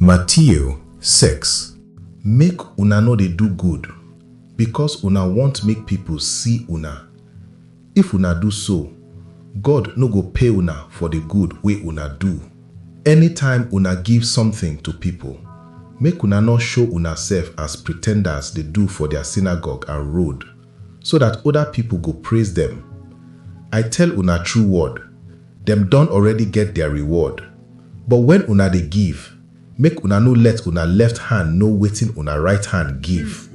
Matthew six, Make una no dey do good because una want make pipu see una. If una do so, God no go pay una for the good wey una do. Anytime una give something to pipu, make una no show unasef as pretenders dey do for their synagogue and road, so dat oda pipol go praiz dem. I tel una tru word, dem don already get dia reward. But wen una dey giv, make una no let una left hand no wetin una rite hand giv,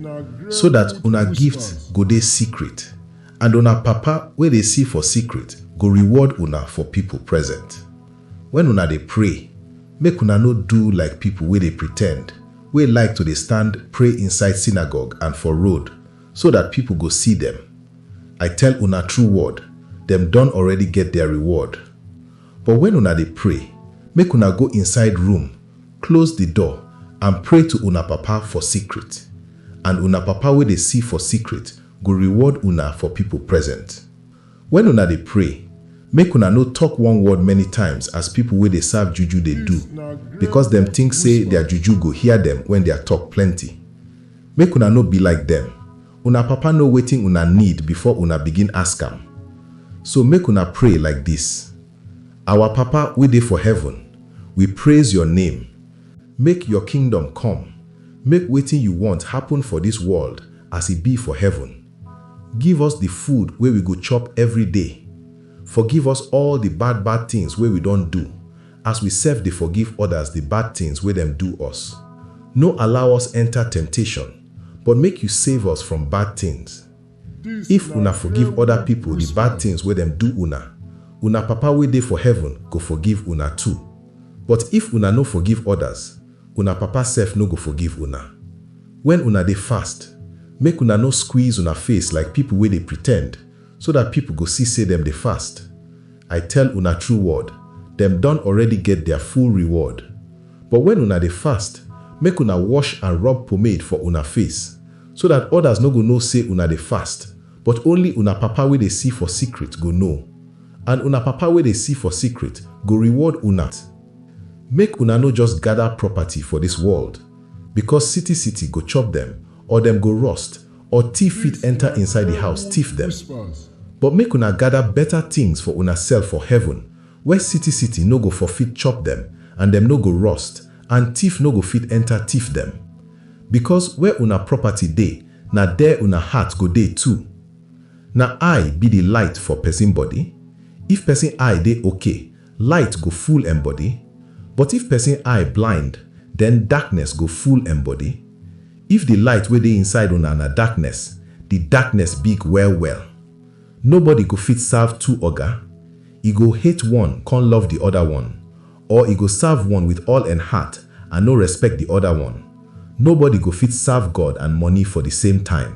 so dat una gift go dey sikrit, and una Papa wey dey si for sikrit go reward una for pipol present. Wen una dey pray, make una no do like pipol wey dey pretend, wey like to dey stand pray inside sinagog and for road, so dat pipol go si dem. I tel una tru word, dem don already get dia reward. But wen una dey pray, make una go inside room, klose di door and pray to una Papa for sikrit, and una Papa wey dey si for sikrit go reward una for pipol present. Wen una dey pray, make una no tok one word many times as pipol wey dey serve juju dey do, bikos dem tink sey dia juju go hear dem wen dia tok plenty. Make una no be like dem. Una Papa know wetin una need before una begin ask am. So make una pray like dis, Our Papa wey dey for heaven, we praise your name. Make your kingdom come. Make wetin you want happen for dis world as e be for heaven. Give us the food wey we go chop every day. Forgive us all the bad bad things wey we don do as we sef dey forgive others the bad things wey dem do us. No allow us enter temptation, but make you save us from bad things. If una forgive other people the bad things wey dem do una, una Papa wey dey for heaven go forgive una too. But if una no forgive others, una Papa sef no go forgive una. When una dey fast, make una no squeeze una face like people wey dey pretend, so dat pipol go si sey dem dey fast. I tel una tru word, dem don already get dia full reward. But wen una dey fast, make una wosh and rob pomade for una face, so dat odas nor go know sey una dey fast, but only una Papa wey dey si for sikrit go know, and una Papa wey dey si for sikrit go reward una. Make una nor just gada propaty for dis world, bikos siti-siti go chop dem, or dem go rost, or thief fit enter inside di house tiff dem. But make una gada beta tins for unasef for heaven, where city-city no go for fit chop dem and dem no go rust, and tiff no go fit enter tiff dem. Becos where una property dey, na der una heart go dey too. Na eye be di light for pesin body. If pesin eye dey okay, Light go full en body, but if pesin eye blind, den darkness go full en body. If di light wey dey inside una na darkness, di darkness big well-well. Nobody go fit serve two oga, e go hate one kon love di oda one, or e go serve one with all en heart and no respect di oda one. Nobody go fit serve God and money for di same time.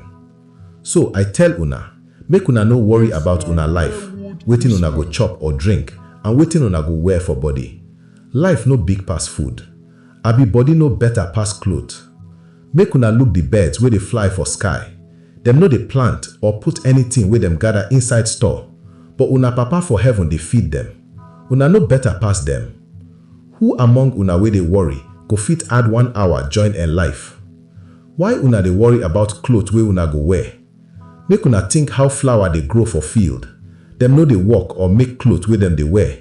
So I tell una, make una no worry about una life, wetin una go chop or drink, and wetin una go wear for body. Life no big pass food? Abi body no better pass cloth? Make una look the birds wey dey fly for sky, dem no dey plant or put anything wey dem gather inside store, but una Papa for heaven dey feed dem. Una no better pass dem? Who among una wey dey worry go fit add one hour join en life? Why una dey worry about cloth wey una go wear? Make una think how flower dey grow for field, dem no dey work or make cloth wey dem dey wear?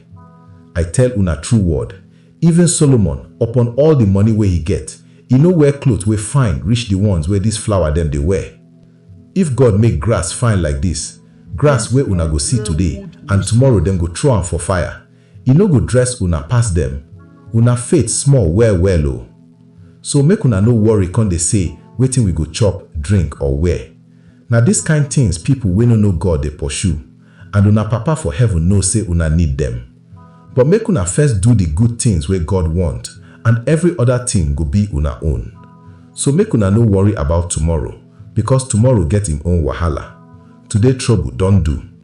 I tell una true word, even Solomon, upon all the money wey he get, e no wear cloth wey fine reach the ones wey dis flower dem dey wear. If God make grass fine like dis, grass wey una go see today and tomorrow dem go throw am for fire, I no go dress una pass dem, una faith small well well o. So make una no worry come dey say wetin we go chop, drink or wear. Na dis kind things people wey no know God dey pursue and una Papa for heaven know say una need dem. But make una first do the good things wey God want and every other thing go be una own. So make una no worry about tomorrow because tomorrow get im own wahala. Today trouble don do.